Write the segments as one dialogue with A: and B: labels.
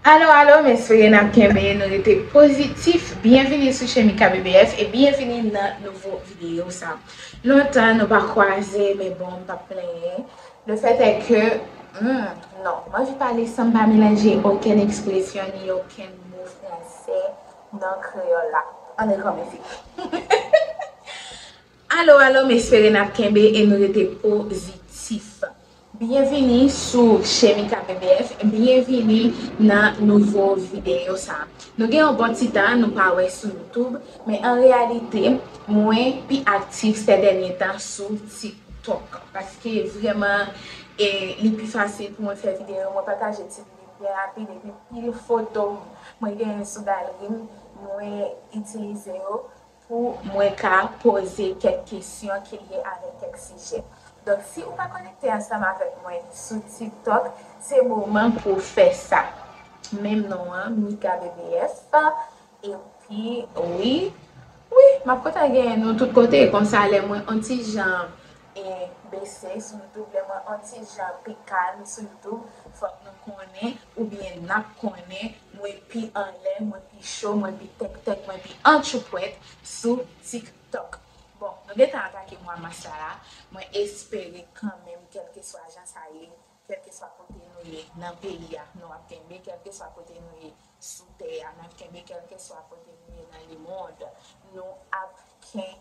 A: Alo alo mè swe nap kenbe nou rete pozitif byenvini sou chèn mikabbf e byenvini nan nouvo videyo sa lontan nou pa kwaze men bon m pap plenyen le fèt è ke humm non m anvi pale san m pa melanje okenn ekspresyon ni okenn mo fransè nan kreyòl la an rekòmanse humm. Alo alo m espere n ap kenbe e nou rete pozitif Byenvini sou Chemika BBF Byenvini nan nouvo videyo sa Nou gen yon bon ti tan nou pa wè sou youtoub Men an reyalite mwen pi aktif sè dènye tan sou tiktok Paske vrèman e li pi fasil pou mwen fè videyo Mwen pataje ti lide m gen rapid epi pil foto mwen genyen sou galri m mwen itilize yo pou mwen ka poze kèk kesyon ki lye avèk kèk sijè. Donk si ou pa konekte ansanm avèk mwen sou TikTok, se moman pou w fè sa. Menm non an, MikaBBF. Epi wi, wi, m ap kontan genyen nou tout kote. Konsa lè mwen on ti jan bese sou Youtube, lè mwen on ti jan pi kalm sou Youtube, fòk nou konnen Oubyen nap konnen mwen pi anlè, mwen pi cho, mwen pi tèktèk, mwen pi antchoupwèt sou TikTok. Bon, nou gentan atake mwa mas la la, mwen espere kanmenm kèlkeswa jan sa ye, kèlkeswa kote nou ye nan peyi a, nou ap kenbe, kèlkeswa kote nou ye sou tè a, n ap kenbe, kèlkeswa kote nou ye nan lemond, nou ap kenbe.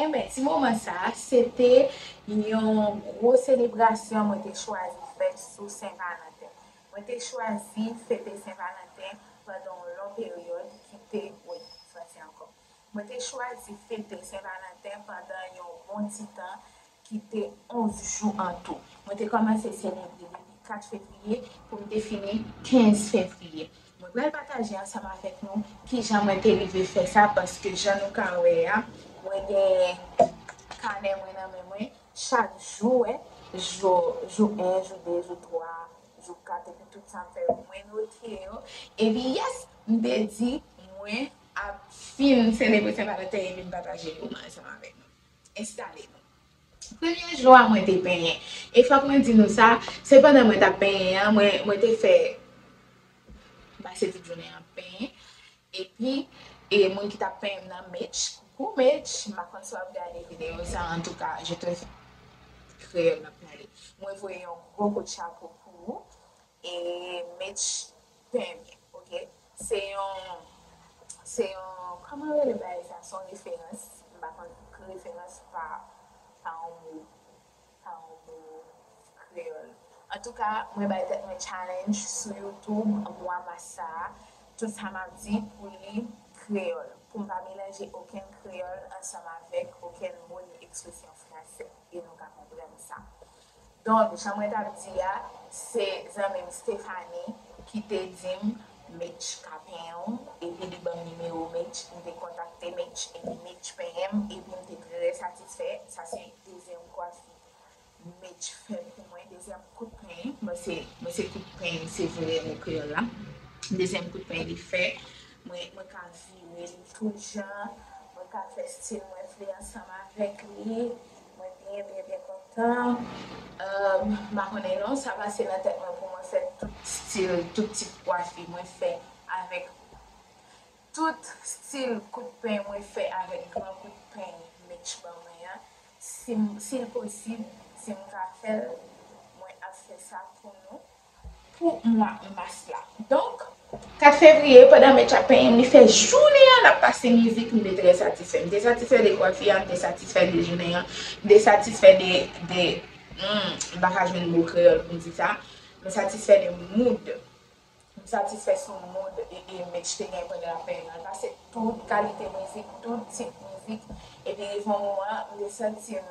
A: Enben, ti moman sa a, se te yon gwo selebrasyon mwen te chwazi fè sou Sen Valanten. Mwen te chwazi fete Sen Valanten pandan yon lon peryòd ki te, wi, franse ankò. Mwen te chwazi fete Sen Valanten pandan yon bon ti tan ki te 11 jou an tou. Mwen te kòmanse selebre depi 4 fevriye pou m te fini 15 fevriye. Mwen pral pataje ansanm avèk nou kijan mwen te rive fè sa paske jan nou ka wè a, mwen gen kanè mwen nan men mwen, chak jou, wè, jou, jou 1, jou 2, jou 3, jou 4 epi tout sa m fè yo mwen note yo. Epi yes, m te di mwen ap fin selebre Sen Valanten epi m pataje yo ansanm avèk nou. Enstale nou. Premye jou a mwen te penyen. E fòk mwen di nou sa, se pandan mwen t ap penyen an, mwen te fè pase tout jounen an ap penyen. Epi, e moun ki t ap penyen m nan, Mitch, coucou Mitch, m pa konn si w ap gade videyo sa, antouka, je te, kreyòl m ap pale, mwen voye yon gwo kout chapo pou ou. E Mitch Pembe ok se yon se yon kòman yo rele bagay sa son referans m pa konn referans pa pa yon mo pa yon mo kreyòl antouka mwen bay tèt mwen challenge sou youtube mwa mas sa tout sa map di pou li kreyòl pou m pa melanje okenn kreyòl ansanm avèk okenn mo ni ekspresyon fransè e nou ka konprann sa. Donk jan mwen tap di a se zanmim Stephanie kite dim Mitch ka penyenw epi li banm nimewo Mitch m te kontakte Mitch epi Mitch penyenm epim te trè satisfè sa se dezyèm kwafi Mitch fè pou mwen dezyèm kout peny bon se bon se kout peny se vre mo kreyòl la dezyèm kout peny li fè mwen mwen ka virel tout jan mwen ka fè stil mwen vle ansanm avèk li Mwen byen byen byen kontan um pa konnen non sa pase nan tèt mwen pou mwen fè tout stil tout tip kwafi mwen fè avèk tout stil kout peny mwen fè avèk gran kout peny mech ban mwen an sim sil posib sim ka fèl mwen ap fè sa pou nou. pou mwa mas la. Donk. 4 fevriye, pandan Mech ap penyen m, li fè jounen an l ap pase mizik, m te trè satisfè. M te satisfè de kwafi a, m te satisfè de jounen an, m te satisfè de, de, humm, m pa ka jwenn mo kreyòl pou m di sa, m satisfè de mood, m satisfè sou mood e Mech te gen pandan l ap penyen m lan. L pase tout kalite mizik, tout tip mizik, epi rive yon moman, m te santi m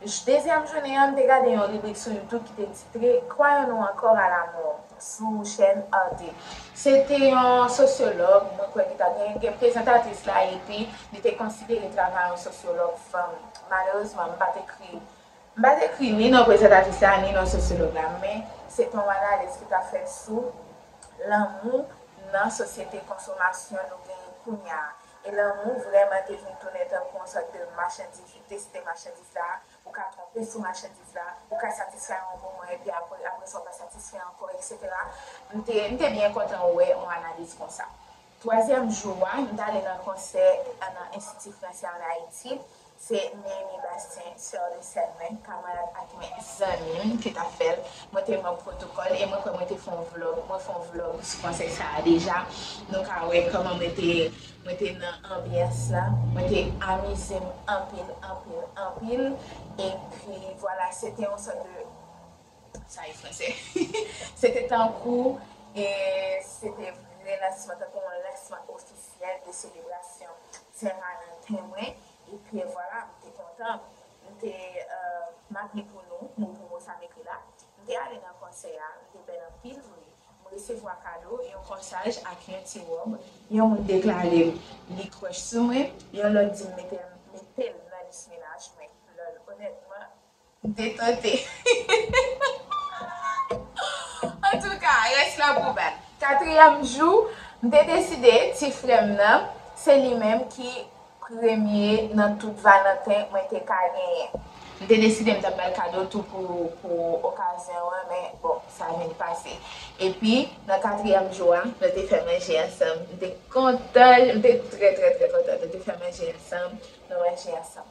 A: J. Dezyèm jounen an, m te gade yon ribrik sou YouTube ki te titre Croyons-nous encore à la mort? sou chèn Arte. Se te yon sosyològ, mwen kwè li ta gen gen prezantatris la epi li te konsidere travay yon sosyològ fanm. Malerezman, m pa t ekri m pa t ekri ni non prezantatris la ni non sosyològ la, men se te yon analiz ki t ap fèt sou lanmou nan sosyete konsomasyon nou genyen kounye a. E lanmou vrèman te vin tounen tankou yon sòt de machandiz, ou teste machandiz la, ou ka twonpe sou machandiz la, ou ka satisfè yon moman epi apre apre sa ou pa satisfè ankò eksetera. M te m te byen kontan wè yon analiz konsa. Twazyèm jou a, m t ale nan konsè nan Enstiti Fransè ann Ayiti, Se Néhémie Bastien, sè resèl mwen, kamarad ak mwen, zanmi m, ki t ap fè l. Mwen te manb pwotokòl e mwen kwè mwen te fè yon vlòg, mwen fè yon vlòg sou konsèy sa a deja. Nou ka wè kòman mwen te mwen te nan anbyans la. Mwen te amize m anpil, anpil, anpil. Epi vwala, se te yon sòt de, sa e fransè, se te tankou, e se te relansman, tankou yon lansman ofisyèl. Syèl de selebrasyon Tèrayan Temwen e Pyè Vwala m te kontan m te m ap li pou nou mo pou mo sa m ekri la m te ale nan konsè a li te bèl anpil vre m resevwa kado yon kòsaj ak yon ti wòb yon moun deklare m li kròch sou mwen yon lòt di m mete m mete l nan lis menaj mwen lòl onètman Detente. Antouka, rès la pou bal. Katriyèm jou, m te deside ti frè m nan, se li menm ki premye nan tout Valanten mwen te ka genyen. M te deside m t ap ba l kado tou pou okazyon an, men bon, sa vin pase. Epi, nan katriyèm jou a, nou te fè manje ansanm. M te kontan, m te trè trè trè kontan. Nou te fè manje ansanm, nou manje ansanm.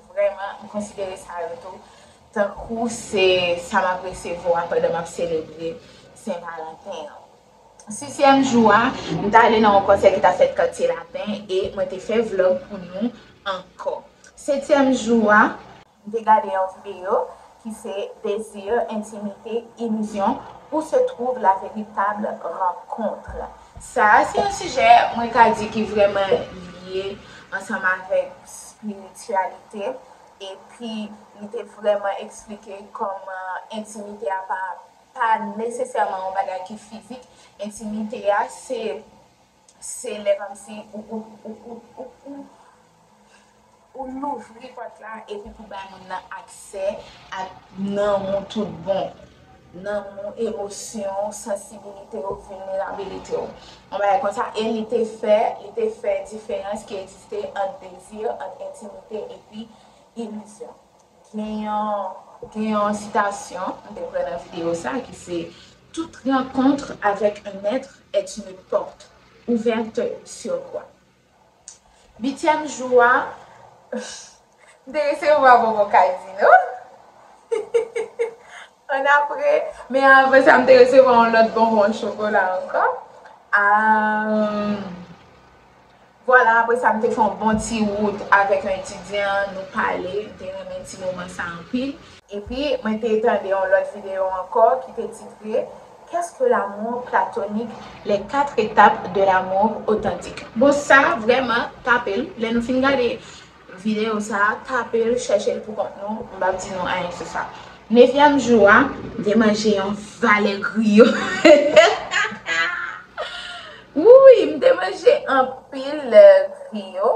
A: Vrèman, m konsidere sa yo tou tankou se sa m ap resevwa pandan m ap selebre Sen Valanten an. Sisyèm jou a, m t ale nan yon konsè ki t ap fèt Katye Lapen e mwen te fè vlog pou nou ankò. Setyèm jou a. M te gade yon videyo ki se Désir, intimité, illusion, où se trouve la véritable rencontre? Sa a se yon sijè mwen ka di ki vrèman lye ansanm avèk spirityalite epi li te vrèman eksplike kòman entimite a pa pa nesesèman yon bagay ki fizik, entimite a se se lè kòmsi ou ou ou ou ou. Pou louvri pòt la epi pou bay moun nan aksè ak nanm ou tout bon, nanm ou, emosyon ou, sansibilite ou, vilnerabilite ou. Yon bagay konsa e li te fè, li te fè diferans ki egziste ant dezi, ant entimite epi ilizyon. Gen yon, gen yon sitasyon m te pran nan videyo sa a ki se, Toute rencontre avec un être est une porte ouverte sur quoi? Uityèm jou a, m te resevwa bonbon kazino. Annapre, men avan sa m te resevwa yon lòt bonbon an chokola ankò. Vwala, apre sa m te fè yon bon ti wout avèk yon etidyan, nou pale, m te renmen ti moman sa anpil. Epi, mwen te tande yon lòt videyo ankò ki te titre Qu'est-ce que l'amour platonique? Les quatre étapes de l'amour authentique. Bon, sa vrèman tape l. Lè nou fin gade videyo sa a, tape l, chèche l poukont nou, m p ap di nou anyen sou sa. Nevyèm jou a, m te manje yon valè griyo. Wouuyy, m te manje anpil griyo.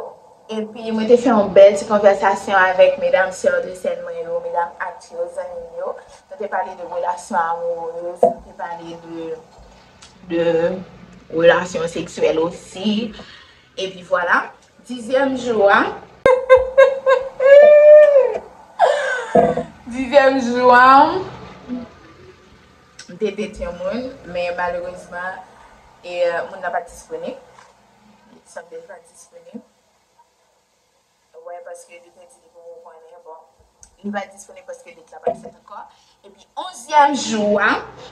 A: Epi mwen te fè yon bèl ti konvèsasyon avèk medam sèr de sèn mwen yo, medam Act yo, zanmi m yo. Nou te pale de relasyon amourez, nou te pale de relasyon seksyèl osi. Epi vwala. Dizyèm jou a, dizyèm jou a, m te date yon moun, men malerezman, moun nan pa t disponib. Sa vle di pa disponib. Wè paske li te di li poko konnen bon. Li pa disponib paske lit la pat fèt ankò. Epi onzyèm jou a,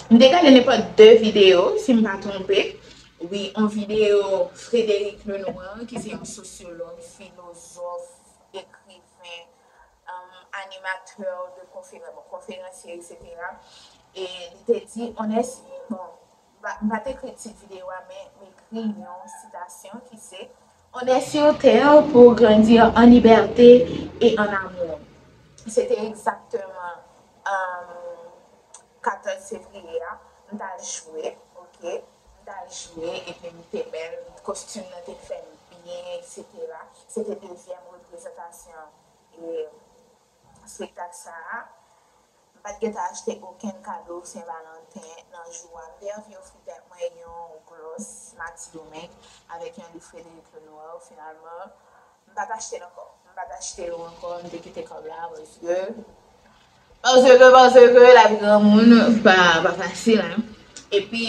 A: m te gade nenpòt 2 videyo si m pa twonpe. Wi, on videyo Frédéric Lenoir ki se yon sosyològ, filozòf, ekriven, animatè de konferans, bon konferansye eksetera. E li te di on èsi bon M pa t ekri tit videyo a men m ekri yon sitasyon ki se. On est sur terre pour grandir en liberté et en amour se te egzakteman 14 fevriye a m t al jwe ok m t al jwe epi m te bèl kostim nan te fè m byen eksetera se te dezyèm reprezantasyon espektak sa a. M pa t gen tan achte okenn kado Sen Valanten nan jou a. M te anvi ofri tèt mwen yon glòs Mati Domeng avèk yon liv Frédéric Lenoir. Finalman, m pa t achte l ankò. M pa t achte yo ankò, m te kite kòb la paske, paske, paske lavi granmoun pa fasil. Epi,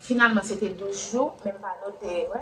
A: finalman se te 12 jou, men m pa note, wè.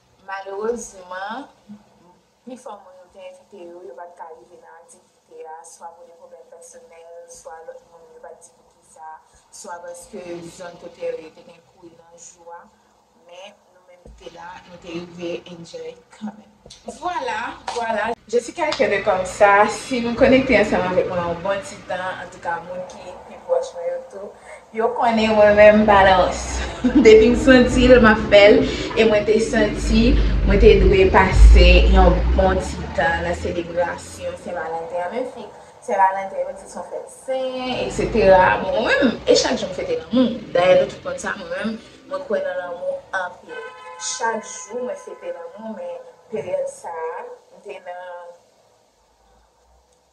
A: Malerezman, pifò moun yo te envite yo, yo pa t ka rive nan aktivite a, swa pou de pwoblèm pèsonèl, swa lòt moun yo pa t di poukisa, swa paske zòn kote yo ye te gen kouri nan jou a. Men, nou menm ki te la, nou te rive enjoy kanmenm. Vwala, vwala! Je suis quelqu'un de comme ça, si nou konekte ansanm avèk mwen yon bon ti tan, antouka moun ki pi pwòch mwen yo tou, Yo konnen mwen menm balans. Depi m santi l map fè l e mwen te santi mwen te dwe pase yon bon ti tan nan selebrasyon sen valanten an menm si sen valanten yo di son fèt sen etc bon mwen menm e chak jou m fete lanmou dayè nou tout konn sa mwen menm mwen kwè nan lanmou anpil chak jou mwen fete lanmou men peryòd sa m te nan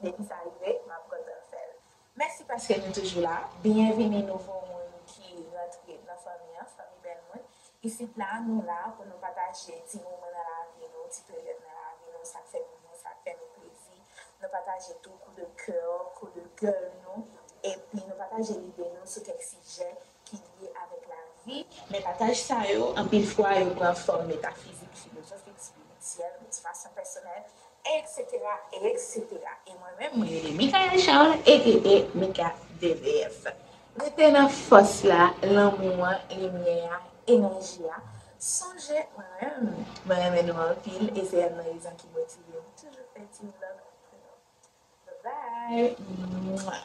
A: Depi sa rive map kontan fèl. Mèsi paske nou toujou la. Byenvini nouvo moun ki rantre nan fanmi an, fanmi bèl moun. Isit la nou la pou nou pataje ti moman nan lavi nou, ti peryòd nan lavi nou, sak fè nou byen, sak fè nou plezi. Nou pataje tou kou de kè, kou de gèl nou epi nou pataje lide nou sou kèk sijè ki lye avèk lavi, men pataj sa yo, anpil fwa, yo pran fòm metafizik, filozofik, spirityèl, motivasyon pèsonèl, eksetera, eksetera. E mwen menm, mwen rele Mikaelle Charles, aka Mika DVF. Rete nan fòs la, lanmou an, limyè a, enèji a. Sonje, mwen menm, mwen renmen nou anpil e se yonn nan rezon ki motive m toujou fè ti vlog pou nou. Bye bye!